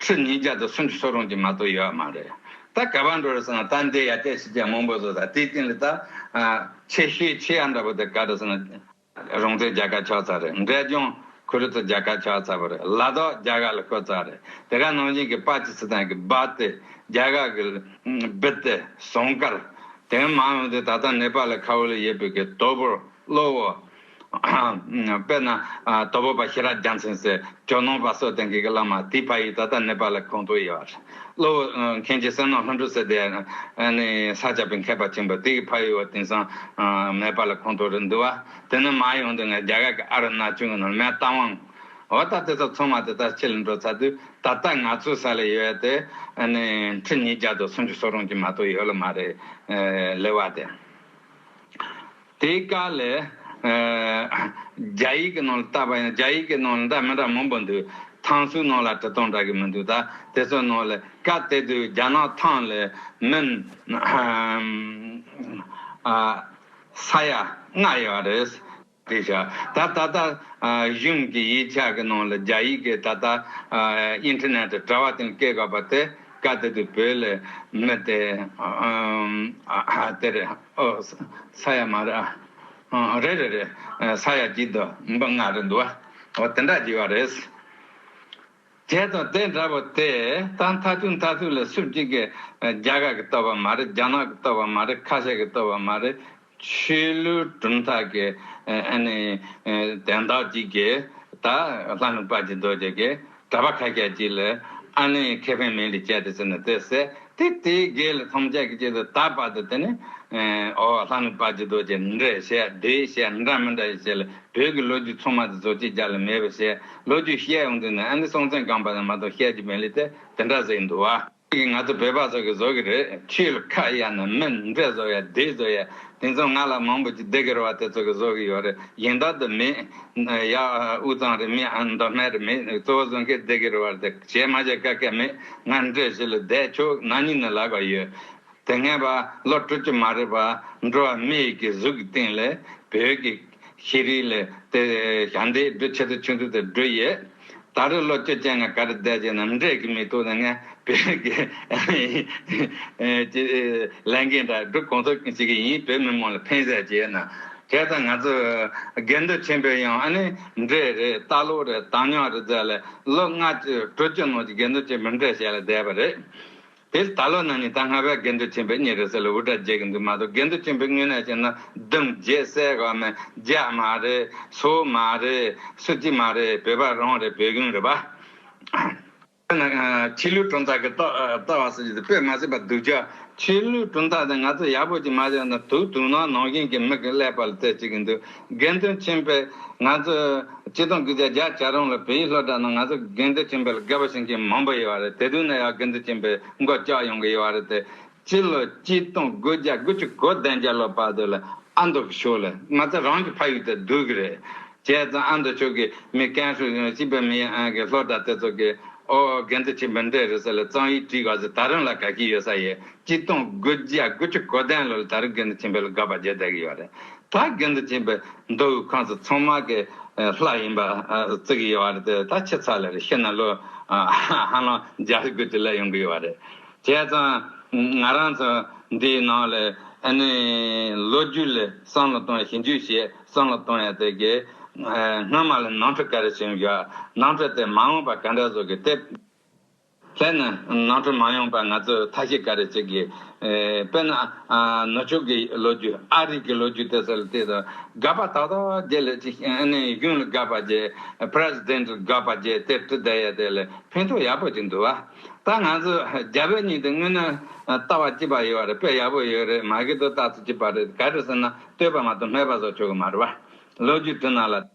ཁྲི་ཉིས་བརྒྱ་དང་སུམ་ཅུ་སོགས་རུང་གི་མ་གཏོགས་ཡོད་མ་རེད། ད་ག་པར་འགྲོ་རེད་ཟེར་ན་ད་འདི་ཡར་བལྟས་ཕྱི་བལྟས་མང་པོ་བཟོ་ད་དེའི་སྟེང་ལ་ད། ཆེ་ཤོས་ཆེ་ཡང་འདྲ་པོ་དེ་ག་རེད་ཟེར་ན། རོང་བྲེ་རྒྱ་གར་ཕྱོགས་ཙག་རེད་འབྲས་ལྗོངས་ཁུ་རུ་ཚོ་རྒྱ་གར་ཕྱོགས་ཙག་པོ་རེད་ལ་དྭགས་རྒྱ་གར་ལ་ཁོད་ཙག་རེད་དེ་ག་ནང་བཞིན་གྱི་པ་ཅི་སི་ཐན་གྱི་སྦ་ཏེ་རྒྱ་གར་གྱི་སྦི་ཏེ་ཟོང་དཀར་དེ་མང་ཡོང་དུས་ད་ལྟ་ནེ་པ་ལ་ཁ་བོ་ལ་ཡེ་བོད་ཀྱི་དོ་པོ་གློ་བོ་དཔེར་ན། དོལ་པོ་པ་ཤེས་རབ་རྒྱ་མཚན་སྲས་ཇོ་ནང་པ་སོགས་དེང་གི་བླ་མ་དེའི་ཕ་ཡུལ་ད་ལྟ་ནེ་པ་ལའི་གོང་དུ་ཡོད་རེད། གློ་བོ་མཁན་གྱི་སྲས་ནོར་ལྷ་འབྲུག་སྲས་དེ་ནི་ས་སྐྱ་པའི་མཁས་པ་ཆེན་པོ་དེའི་ཕ་ཡུལ་བ་དེང་སང་ནེ་པ་ལའི་གོང་དུ་རེད་འདུག་བ། དེ་ནི་མ་ཡོང་དུས་ང་རྒྱ་གར་གྱི་ཨ་ར་ན་ཅུན་གྱི་ནང་མལ་བཏང་དབང། འོ་ད་དེ་ཚོ་ཚང་མ་དེ་ལྟར་ཕྱི་ལ་འགྲོ་ཚར་དུས་ད་ལྟ་ང་ཚོའི་ས་ལ་ཡོད་དེ་ཁྲི་ཉིས་བརྒྱ་དང་སུམ་ཅུ་སོ་རུང་གྱི་མ་གཏོགས་ཡོད་ལ་མ་རེད། ལེ་བ་དེ། དེའི་བཀའ་ལས། རྒྱ་ཡིག་གི་ནང་ལ་བལྟ་བ་ཡིན་ན་རྒྱ་ཡིག་གི་ནང་ལ་འདྲ་མི་འདྲ་མང་པོ་འདུག་ཐང་སུའི་ནང་ལ་དྲི་སྟོང་འདྲ་གི་མི་འདུག་ད་དེ་ཚོའི་ནང་ལས་བཀའ་དེ་དུས་རྒྱ་ནག་ཐང་ལས་མིན། ས་ཡ་ལྔ་ཡོད་པ་རེད། དེ་ཤ་ད་ད་ལྟ་གཞུང་གི་ཡིག་ཆ་གི་ནང་ལ་རྒྱ་ཡིག་གི་ད་ལྟ Internet དྲ་བ་སྟེང་བཀལ་དགོས་པ་དེ་བཀའ་དེ་དུས་བོད་ལས་མི་དེ་དེ་རེད། ཨོ། ས་ཡ་མ་རེད་ཨ། རེད་རེད་རེད། ས་ཡ་གཅིག་དུ་འབུམ་པ་ལྔ་རེད་འདུག་ཨ། ཨོ་དེ་འདྲ་གྱི་བ་རེད། དེ་དང་དེ་འདྲ་བོ་དེ་ད་མཐའ་ཐུག་མཐའ་ཐུག་ལ་སུ་གཅིག་གི་རྒྱ་གར་གི་བསྟོད་པ་མ་རེད་རྒྱ་ནག་གི་བསྟོད་པ་མ་རེད་ཁ་ཤས་ཀྱི་བསྟོད་པ་མ་རེད་ཆོས་ལུགས་གྲུབ་མཐའ་གི་ཨ་ནི་དན་རྟགས་གཅིག་གིས་ད་ལྷ་མི་དཔའ་གཅིག་རྡོ་རྗེ་གིས་གྲྭ་པ་ཁ་ཤས་ཀྱིས་ལ་ཨ་ནི་ཁེ་ཕན་མིན་ལི་ཅལ་དུ་བྱེད་ན་དེ་ཟད་དེ་དེའི་འགལ་ལ་ཐམས་ཅད་ཀྱི་ཆེད་དུ་ད་བར་དུ་དེ་ནི་ཨོ་ལྷ་ནི་བར་གྱི་རྡོ་རྗེ་འདྲ་ཞེས་བདེ་ཞེས་འདྲ་མི་འདྲ་ཞེས་བྱས་ལ་བོད་ཀྱི་ལོ་རྒྱུས་ཚང་མ་དེ་ཚོ་ཅིག་ཅར་ལ་མེད་པ་ཞེས་ལོ་རྒྱུས་བཤད་ཡོང་དུས་ནི་ཨ་ནི་སྲོང་བཙན་སྒམ་པ་ན་མ་གཏོགས་ཤད་ཀྱི་མི་ལི་ཏེ་དེ་འདྲ་ཟེར་གྱི་འདུག་བ། ཀྱིས་ང་ཚོ་བོད་པ་ཚོ་གི་བཟོ་གི་རེད་ཆུ་ལ་ཁ་གཡར་ནས་མི་འདི་བཟོ་ཡ་དེ་བཟོ་ཡ་དེང་སང་ང་ལ་མང་པོ་ཅིག་སྡིག་གིར་བ་དེ་ཚོ་གི་བཟོ་གི་ཡོད་རེད་ཡིན་དག་དུ་མེད་ཡ་དབུས་གཙང་རི་མི་ཨ་མདོ་སྨད་རི་མི་གཙོ་བོ་བཟོ་མཁན་སྡིག་གིར་བ་དེ་བྱེད་མ་བྱེད་བཀའ་སྐད་མེད་ང་འདྲེ་བྱེད་ལ་བསྡད་ཁྱོད་ནང་ཉིད་ནས་ལག་པ་ཡོད། དེ་སྔའི་བ་ལོ་དྲུག་ཅུ་མ་རེད་པ་འགྲོ་བ་མི་ཡི་གི་གཟུགས་ཀྱི་སྟེང་ལས་བོད་ཀྱི་ཤེས་རིག་ལས་དེ་ཞང་དེའི་སྒྲུ་ཆེ་ཚོ་ཆུང་ཚོ་དེ་སྒྲུ་ཡོད་ད་རེ་ལོ་བཅུ་ཅན་ང་ག་རེ་བསྡད་ཅེ་ནམ་འབྲས་ཀྱི་མི་ཐུག་ན་ངས་བོད་ཀྱི་ཀྱི་ལས་འགན་འདྲ་སྒྲུ་གོང་ཚོ་ཞིག་གི་ཡིན་བོད་མི་མང་ལ་ཕན་ཟེར་ཅེ་ན་དེ་ལྟ་ང་ཚོ་སྒེར་འདུ་ཆེན་པོས་ཡང་ཨ་ནི་འབྲས་རེད་རྟ་ལོག་རེད་དང་ཉོག་རེད་ཟེར་ལས་ལོ་ལྔ་བཅུ་དྲུག་ཅུ་ནང་ཀྱི་སྒེར་འདུ་ཆེན་པོས་འབྲས་བཞེས་ལ་བསྡད་པ་རེད། དེར་ད་ལོ་ནང་ཉིན་ཐ་སྔ་བའི་དགེ་འདུན་ཆེན་པོའི་ཉིན་རེད་ཟེར་ལ་འུར་སྒྲ་རྒྱས་ཀྱི་འདུག་མ་གཏོགས་དགེ་འདུན་ཆེན་པོའི་དངོས་གནས་ཞིག་ན་སྡུམ་རྒྱས་གསལ་ག་མེད་རྒྱ་མ་རེད་སོ་མ་རེད་སུ་གཅིག་མ་རེད་བོད་པ་རང་རེད་བོད་གཞུང་རེད་པ། ཆོས་ལུགས་གྲུབ་མཐའ་གི་ལྟ་བ་སོགས་ཀྱི་དེ་དཔེ་མ་སྲིད་པ་སྡུག་ཅག་ཆོས་ལུགས་གྲུབ་མཐའ་དེ་ང་ཚོ་ཡག་པོ་ཅིག་མ་བྱས་ན་དུག་དུག་ནང་ནང་བཞིན་གྱི་མིག་གི་ཀླད་པ་ལ་བལྟས་བྱེད་ཀྱི་འདུག། དགེ་འདུན་ཆེན་པོས་ང་ཚོས་སྤྱི་སྟངས་གུས་བརྩི་རྒྱ་བྱ་རུང་ལ་བོད་ཡིག་སློབ་གྲྭ་ནང་ང་ཚོ་དགེ་འདུན་ཆེན་པོ་ལ་དགེ་བ་བྱིན་མཁན་མང་པོ་ཡོད་པ་རེད་དེ་དུས་ན་ཡང་དགེ་འདུན་ཆེན་པོས་མགོ་བཀྱག་ཡོང་གི་ཡོད་པ་རེད་དེ་སྤྱི་ལོ་སྤྱི་སྟངས་གུས་བརྒྱ་དགུ་བཅུ་གོ་བདུན་བརྒྱ་ལོ་བར་དུ་ལ་ཨ་མདོ་གི་ཕྱོགས་ལ་ང་ཚོ་རང་གི་ཕ་ཡུལ་དུ་སྡོད་ཀྱི་རེད་བྱས་ཙང་ཨ་མདོ་ཕྱོགས་ཀྱི་མི་རྐན་ཧྲུལ་ཡང་སྤྱི་པའི་མི་ཡང་གི་སློབ་གྲྭ་དེ་ཚོ་གི་ཨོ་དགེ་འདུན་ཆེན་པོས་འདྲེ་རེད་ཟེར་ལ་གཙང་ཡིག་བྲིས་ག་ཚོད་ད་རུང་ལ་དགའ་གི་ཡོད་ས་ཡོད་སྤྱི་སྟངས་གུས་བརྒྱ་དགུ་བཅུ་གོ་བདུན་ལོ་ལ་ད་རུང་དགེ་འདུན་ཆེན་པོ་ལ་དགའ་བ་བརྒྱ་བརྒྱ་གི་ཡོད་རེད། ད་རྒན་དུ་ཕྱིན་པའི་མདོ་དབུས་ཁམས་སུ་ཚང་མ་གི་ལྷ་ཡིན་པ་བརྩི་གི་ཡོད་བ་རེད་ད་ཁྱི་ཚ་ལ་རེ་ཤི་ན་ལོ་ཧ་ལམ་བརྒྱ་ལ་གུད་དུ་ལས་ཡོང་གི་ཡོད་བ་རེད། བྱས་ཙང་ང་རང་ཚོ་འདིའི་ནང་ལ་ཨ་ནི་ལོ་རྒྱུས་ལ་བསམ་བློ་གཏོང་ཡ་ཞིབ་འཇུག་བྱས་བསམ་བློ་གཏོང་ཡ་དེ་གི་སྔོན་མ་ལ་ནང་ཁྲོལ་ག་རེ་བྱུང་ཡོད་ནང་ཁྲོལ་དེ་མ་འོངས་པ་ག་འདྲ་བཟོ་གི་དེ། དེ་ནི་ནང་ཁྲོལ་མ་ཡོང་པར་ང་ཚོས་ཐ་ཤི་ག་རེ་བྱེད་དགོས། དཔེར་ན། ནུབ་ཕྱོགས་ཀྱི་ལོ་རྒྱུས་ཨ་རིག་གི་ལོ་རྒྱུས་དེ་ཚོ་ལ་བལྟས་དང། སྒར་པ་དག་དག་རྒྱལ་ལས་ཅི་གཡུང་ལ་སྒར་པ་རྒྱལ། President། སྒར་པ་རྒྱལ་དེར་བཀྲི་བསྡད་ཡ་དེ་ལས་ཕན་ཐོགས་ཡག་པོ་ཅིག་འདུག་བ། ད་ང་ཚོས་རྒྱ་བོད་གཉིས་དེ་དངོས་ནས་ལྟ་བ་གཅིག་པ་ཡོད་བ་རེད་དཔེ་ཡག་པོ་ཡོད་རེད་མ་གི་ཏོ་ལྟ་ཚུལ་གཅིག་པ་རེད་ག་རེ་ཟེར་ན་ལྟོས་པ་མ་གཏོགས་སྨྲས་པ་སོགས་ཆོ་ག་མ་རེད་བ། ལོ་རྒྱུས་བཀྲི་ན་ལ།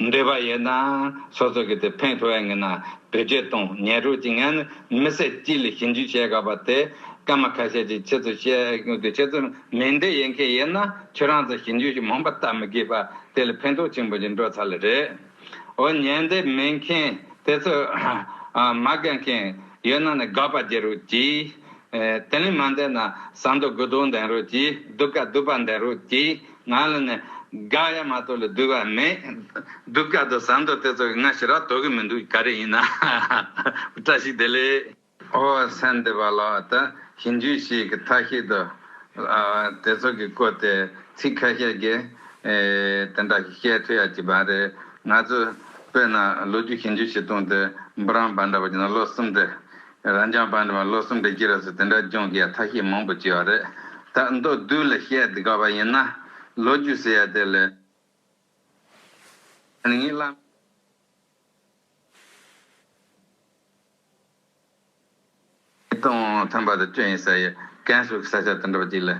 འདོད་པ་ཡོད་ན་སོ་སོ་གི་དེ་ཕན་ཐོགས་ཡ་ངེས་ན་བོད་ཆས་དང་ཉལ་རོགས་ཀྱི་ངས་ནི་མི་བསད་གཅིག་ལས་ཞིབ་འཇུག་བྱེད་དགའ་བ་དེ་སྐར་མ་ཁ་ཤས་ཀྱི་ཆེད་དུ་བཤད་རྒྱུ་དེ་ཁྱེད་ཚོར་མི་འདོད་ཡོད་མཁན་ཡོད་ན་ཁྱོད་རང་ཚོ་ཞིབ་འཇུག་ཞིག་མང་པ་བལྟ་མི་དགོས་པ་དེ་ལས་ཕན་ཐོགས་ཆེན་པོ་ཞིག་འགྲོ་ཚར་ལ་རེད་འོ་ཉན་འདོད་མེད་མཁན་དེ་ཚོས་མ་དགའ་མཁན་ཡོད་ན་ནི་དགའ་བར་བྱེད་རོགས་གྱིས་དེ་ལས་མ་འདས་ན་བསམ་དོ་དགུ་དོག་འདས་རོ་གྱིས་སྡུག་ཀ་སྡུག་པ་འདས་རོ་གྱིས་ང་ལ་ནི་དགའ་ཡ་མ་ཏོ་ལ་སྡུག་བ་མེད་སྡུག་ཀ་དོ་བསམ་དོ་དེ་ཚོ་གི་ང་ཞི་རག་དོ་གི་མི་འདུག་ག་རེ་ཡིན་ན་བཀྲ་ཤིས་བདེ་ལེགས། ཨོ་སེམས་འདི་བ་ལ་ད་ཞིང་རྒྱུད་ཞིག་གི་ཐ་ཤིས་དོ་དེ་ཚོ་གི་བཀོད་དེ་ཚིག་ཁ་ཤས་ཀྱི་དེ་འདྲ་ཞིག་བཤད་ཐུ་ཡ་གྱི་བ་རེད་ང་ཚོ་བོད་ན་ལོ་རྒྱུ་ཞིང་རྒྱུད་ཞིག་གཏོང་དེ་འབུ་རང་བ་འདྲ་བ་གྱི་ན་ལོ་གསུམ་དེ་རང་ཅག་བར་འདྲ་བ་ལོ་གསུམ་གྱི་རྗེས་སུ་དེ་འདྲ་སྦྱོང་གི་ཡ་ཐ་ཤི་མང་པོ་བྱས་བ་རེད་ད་མདོ་བསྡུས་ལ་བཤད་དགའ་བ་ཡིན་ན་ལོ་རྒྱུས་ཟེར་ཡ་དེ་ལས་ངེད་བླ་མེད་དང་མཐུན་པ་དང་བཅོས་ཡིན་ཟེར་ཡས་ཀན་སུའུ་གི་ས་ཆ་དེ་འདྲ་བ་ཅིག་ལ་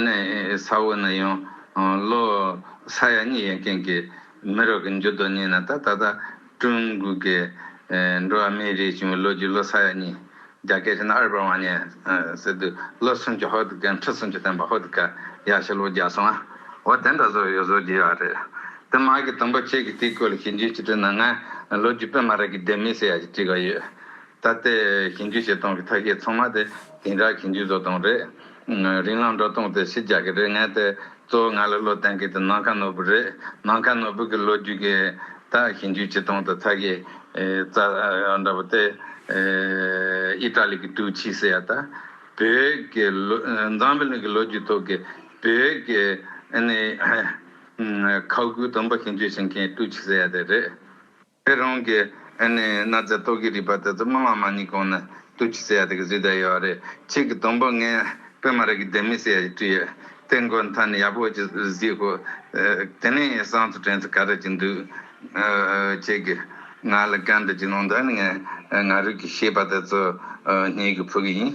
ནས་ས་འོག་ན་ཡང་ལོ་ས་ཡ་གཉིས་ཡན་ཀན་གི་མི་རོ་གི་འཇུ་དོ་ཉིན་ན་ད་ད་ད། ཀྲུང་གོ་གི་འགྲོ་བ་མིའི་རིགས་བྱུང་བའི་ལོ་རྒྱུས་ལོ་ས་ཡ་གཉིས། རྒྱ་སྐད་ཆེ་ན་ཨར་པར་ཝང་ཉན་ཟེར་དུས་ལོ་སུམ་ཅུ་ཧོར་དུ་སྐད་འཕྲོ་སུམ་ཅུ་བསྟན་པ་ཧོར་དུ་སྐད་ཡ་ཤས་ལོ་བརྒྱ་སོང་ཨ་འོ་དེ་འདྲ་བཟོ་ཡོད་བཟོ་གྱི་ཡོད་རེད་དེ་མ་གི་དང་པོ་ཁྱེད་ཀྱི་དེའི་སྐོར་ལ་ཞིབ་འཇུག་བྱེད་དུས་ནང་ང་ལོ་རྒྱུས་དཔེ་མ་རག་གི་བདེན་མིན་ཟེར་ཡ་གྱི་དྲི་ག་ཡོད། ད་ལྟའི་གྱེན་རྒྱུ་བྱེད་སྟངས་ཀྱི་ཐ་སྐད་ཚང་མ་དེ་དེང་རབས་གྱེན་རྒྱུ་བཟོ་སྟངས་རེད། རིང་ལང་འགྲོ་སྟངས་དེ་ཕྱི་རྒྱག་གི་རེད་ངས་དེ་གཙོ་བོ་ང་ལ་བློ་བསྟན་གི་དེ་ནམ་མཁའ་ནོར་བུ་རེད་ནམ་མཁའ་ནོར་བུ་གི་ལོ་རྒྱུས་ཀྱི་ད་གྱེན་རྒྱུ་བྱེད་སྟངས་དེ་ཐ་སྐད་རྩ་འདྲ་པོ་དེ་ཨི་ཏྲ་ལི་གི་ཏུའུ་ཆི་ཟེར་ཡ་ད་བོད་ཀྱི་འཛམ་བུ་གླིང་གི་ལོ་རྒྱུས་ཐོག་གི་བོད་ཀྱི་ཁ་སྒོའི་དུམ་པ་གྱེན་རྒྱུ་བྱེད་མཁན་ཏུའུ་ཆི་ཟེར་ཡ་དེ་རེད། ཨེ་རོང་གིས་ཨེ་ནས་གནའ་རྫས་རྟོག་གེའི་རིག་པ་དེ་ཚོ་སྨྲ་བ་མ་ཉིད་གོང་ནས་ཏུ་ཁྱི་ཟེར་ཡ་དེ་གི་གཟུགས་དག་ཡོད་བ་རེད་ཁྱེད་ཀྱི་དོམ་པོ་ངས་པད་མ་ར་གི་ལྡེ་མིག་ཟེར་ཡ་ཞིག་བྲིས་ཡོད་དེ་མགོ་མཐའ་ནས་ཡག་པོ་ཅིག་གཟིགས་ཤོག་དེ་ནས་ཡིན་སང་ཚུ་དྲན་ཚུ་ག་རེ་ཅིག་འདུག་ཁྱེད་ཀྱིས་ང་ལ་བཀའ་འདྲི་ཅིག་གནང་ད་ནི་ངས་ང་རུས་ཀྱི་ཤེས་པ་དེ་ཚོ་སྙེག་གི་ཕུལ་གི་ཡིན།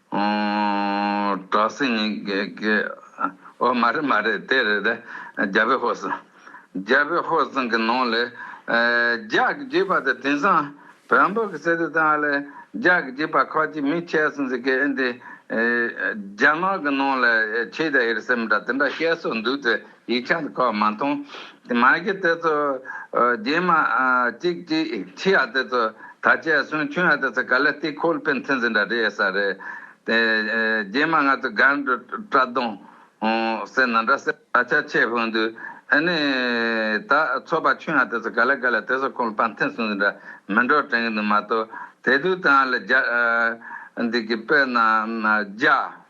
གྲོགས་སེང་ནི་འོ་མ་རེད་མ་རེད་དེ་རེད་རྒྱ་བོད་ཧོར་སང། རྒྱ་བོད་ཧོར་སང་གི་ནང་ལས། རྒྱ་གི་རྒྱུད་པ་དང་དེང་སང་བོན་པོ་གི་སྲས་དེ་དག་ལས་རྒྱ་གི་རྒྱུད་པ་ཁག་ཅིག་མི་ཁྱད་སོང་ཟིག་གེ་འདི། རྒྱ་ནག་གི་ནང་ལས་ཆེད་དེ་ཨེར་སེམས་འདྲ་དེ་འདྲ་བཤད་སོགས་འདུག་དེ། ཡིག་ཆ་འདི་ཁོ་མ་མཐོང། མ་གི་དེ་ཚོ་རྗེས་མ་ཅིག་ཅིག་ཕྱི་ཡ་དེ་ཚོ་ད་ཆ་སུན་ཕྱུང་ཡ་དེ་ཚོ་ག་ལ་སྟེ་ཁོལ་པའི་མཐུན་རྫས་འདྲ་རེད་ས་རེད། རྗེས་མ་ང་ཚོ་སྒར་འགྲོ་བཀྲ་དོང་ཟེར་ན་འདྲ་ཟེར་ད་ཆ་ཆེས་དཔོན་དུ་ཨེ་ནི་ད་ཚོ་པ་ཕྱུང་ཡ་དེ་ཚོ་ག་ལ་ག་ལ་དེ་ཚོ་ཁོལ་པ་མཐུན་སུན་འདྲ་མི་འགྲོ་དྲན་གི་འདུག་མ་གཏོགས་དེ་དུས་དང་ལ་རྒྱ་འདི་གི་དཔེར་ན་རྒྱ།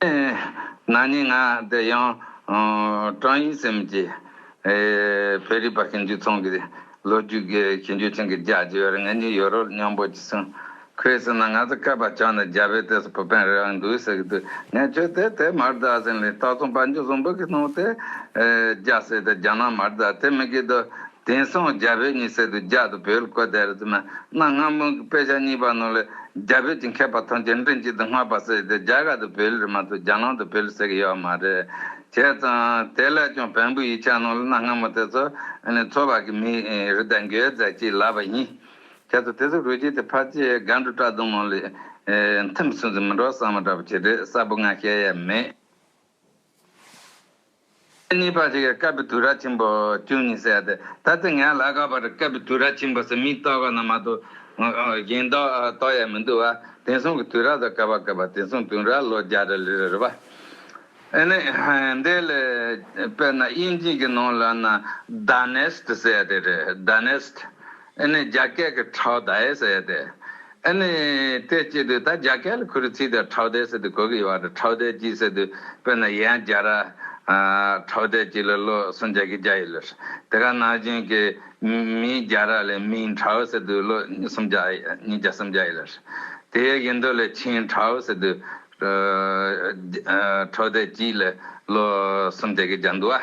ན་ནིང་ང་འདི་ཡང་ཀྲང་ཡུས་སིམ་གྱིས་བོད་རིག་པ་ཞིབ་འཇུག་ཚང་གི་ལོ་རྒྱུས་ཞིབ་འཇུག་ཐེངས་གི་རྒྱ་ཆེ་བར་ངེད་གཉིས་ཡོད་རོགས་སྙམ་པོ་ཅི་གསུངས། ཁོས་ཟེར་ན་ང་ཚོ་སྐལ་པ་ཆགས་ནས་རྒྱ་བོད་དེ་སོ་བོད་ཕན་རེད་འདུག་ཟེར་གྱི་འདུག་ངས་ཁྱོད་དེ་དེ་མར་བསྡད་ཟེར་ལས་རྟགས་མཚུངས་དཔལ་འབྱོར་བཟང་པོ་གི་ནང་དེ་རྒྱ་ཟེར་དེ་རྒྱ་ནང་མར་བསྡད་དེ་མི་དགོས་དོ། དེང་སང་རྒྱ་བོད་གཉིས་སེ་དུ་རྒྱ་དུ་བོད་ལ་བཀོད་དེ་རེད་འདུག་ན་གནའ་སྔ་མོ་གི་དཔེ་ཆ་གཉིས་པ་ནང་ལ་རྒྱ་བོད་ཀྱི་མཁས་པ་ཐམས་ཅད་མགྲིན་གཅིག་ཏུ་སྔགས་པ་ཟེར་ཏེ་རྒྱ་གར་དུ་བོད་ལུགས་མ་གཏོགས་རྒྱ་ནང་དུ་བོད་ལུགས་ཟེར་གི་ཡོད་པ་མ་རེད། བྱས་ཙང་དེ་ལས་ཀྱང་བོན་པོའི་ཡིག་ཆ་ནང་ལ་གནའ་སྔ་མོ་དེ་ཚོ་ཚོ་བར་གྱི་མིའི་རིགས་དང་འགལ་ཟེར་གྱི་ལབ་པ་ཡིན། ཁྱེད་ཚོ་དེ་ཚོ་རུས་རྒྱུད་དེ་ཕར་ཆེ་སྒང་དྲུག་བཀྲ་དུང་མོ་ལས་མཐུན་པའི་སུན་ཟིན་མི་འགྲོ་བསམ་བ་འདྲ་པོ་བྱེད་རེས་གསལ་པོ་ང་ཤེས་ཡས་མེད། ཚེས་གཉིས་པ་ཞིག་གི་སྐབས་བི་དུ་ར་ཆེན་པོ་བཅུ་གཉིས་བསད་དེ། ད་ཚེས་ལྔའི་ལ་ག་བར་སྐབས་བི་དུ་ར་ཆེན་པོ་སེ་མིག་གཏོགས་ཀ་ན་མ་གཏོགས་གཞན་གཏོགས་ཡས་མི་འདུག་བ་དེང་སང་བི་དུ་ར་ཟེར་ག་བ་ག་བ་དེང་སང་དུང་ར་ལོ་བརྒྱ་རེ་ལི་རེ་རེད་བ། ཨེ་ནི་འདི་ལས་དཔེར་ན་དབྱིན་ཇིག་གི་ནང་ལ་ན Dynast བསད་དེ་རེད Dynast། ཨེ་ནི་རྒྱ་སྐད་ཀྱི་ཁྲའོ་ཏའེ་ཟེར་ཡོད་དེ། ཨེ་ནི་དེ་སྐྱེས་དུས་ད་རྒྱ་སྐད་ལ་ཁུ་རུ་ཚིག་དེར་ཁྲའོ་ཏའེ་ཟེར་དུས་གོ་གི་ཡོད་བ་རེད་ཁྲའོ་ཏའེ་སྐྱིད་ཟེར་དུས་དཔེར་ན་ཡན་རྒྱ་ར། ཁྲའོ་ཏའེ་སྐྱིད་ལ་བློ་སུན་རྒྱ་ཁྱི་རྒྱ་ཡི་ལོས། དེ་ག་ནང་བཞིན་གྱི་མིན་རྒྱ་ར་ལས་མིན་ཁྲའོ་ཟེར་དུས་བློ་སུམ་རྒྱ་ཡི་རྒྱ་སུམ་རྒྱ་ཡི་ལོས། དེ་ཡི་ཡིན་དོ་ལས་ཆིན་ཁྲའོ་ཟེར་དུས་ཁྲའོ་ཏའེ་སྐྱིད་ལ་བློ་སུམ་རྒྱ་ཁྱི་རྒྱ་འདུག་ཨ།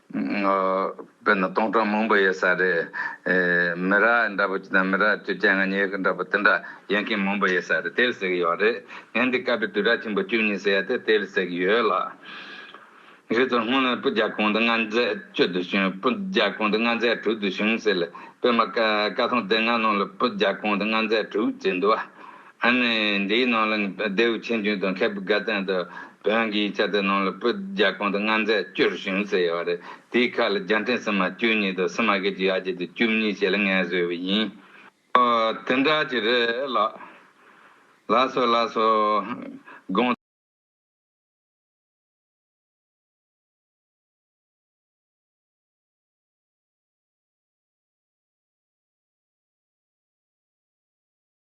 དཔེར་ན་སྟོང་ཕྲག་མང་པོ་ཡོད་ས་རེད། མི་ར་འདྲ་པོ་ཅིག་དང་མི་ར་བཅོ་བརྒྱད་ང་གཉིས་ཀ་འདྲ་པོ་དེ་འདྲ་ཡན་གྱི་མང་པོ་ཡོད་ས་རེད་དེར་ཟེགས་ཡོད་རེད། ངས་འདི་བཀའ་པའི་དུས་དྲག་ཆེན་པོ་བཅུ་གཉིས་ཟེར་ཡ་དེ་དེར་ཟེགས་ཡོད་ལ། ཁྱེད་ཚོར་སྔོན་ལ་སྤུ་རྒྱག་གོང་དུ་ང་མཛད་བཅུ་དུ་བྱུང་སྤུ་རྒྱག་གོང་དུ་ང་མཛད་དྲུག་དུ་བྱུང་ཟེར་ལ་དཔེར་མ་བཀའ་ཐང་དེ་ང་ནང་ལ་སྤུ་རྒྱག་གོང་དུ་ང་མཛད་དྲུག་བྱས་འདུག་བ། ཨ་ནི་འདིའི་ནང་ལ་ནི་ལྡེའུ་ཆེན་བྱུང་དང་མཁས་པའི་དགའ་ལྡན་དུ་བོན་གྱི་ཡིག་ཆ་དེ་ནང་ལ་སྤུ་རྒྱ་གོང་དུ་མངའ་མཛད་བཅུར་བྱུང་ཟེར་ཡོད་པ་རེད་དེའི་ཁ་ལ་རྒྱ་འཕྲིན་སིལ་མ་བཅུ་གཉིས་དང་སིལ་མ་བརྒྱད་ཅུ་ཡར་རྒྱས་དུ་བཅུ་གཉིས་ཞེས་ལ་ངས་བཟོས་པ་ཡིན། ཨོ། དེ་འདྲ་ཅིག་རེད་ལགས། ལགས་སོ་ལགས་སོ། དགོངས།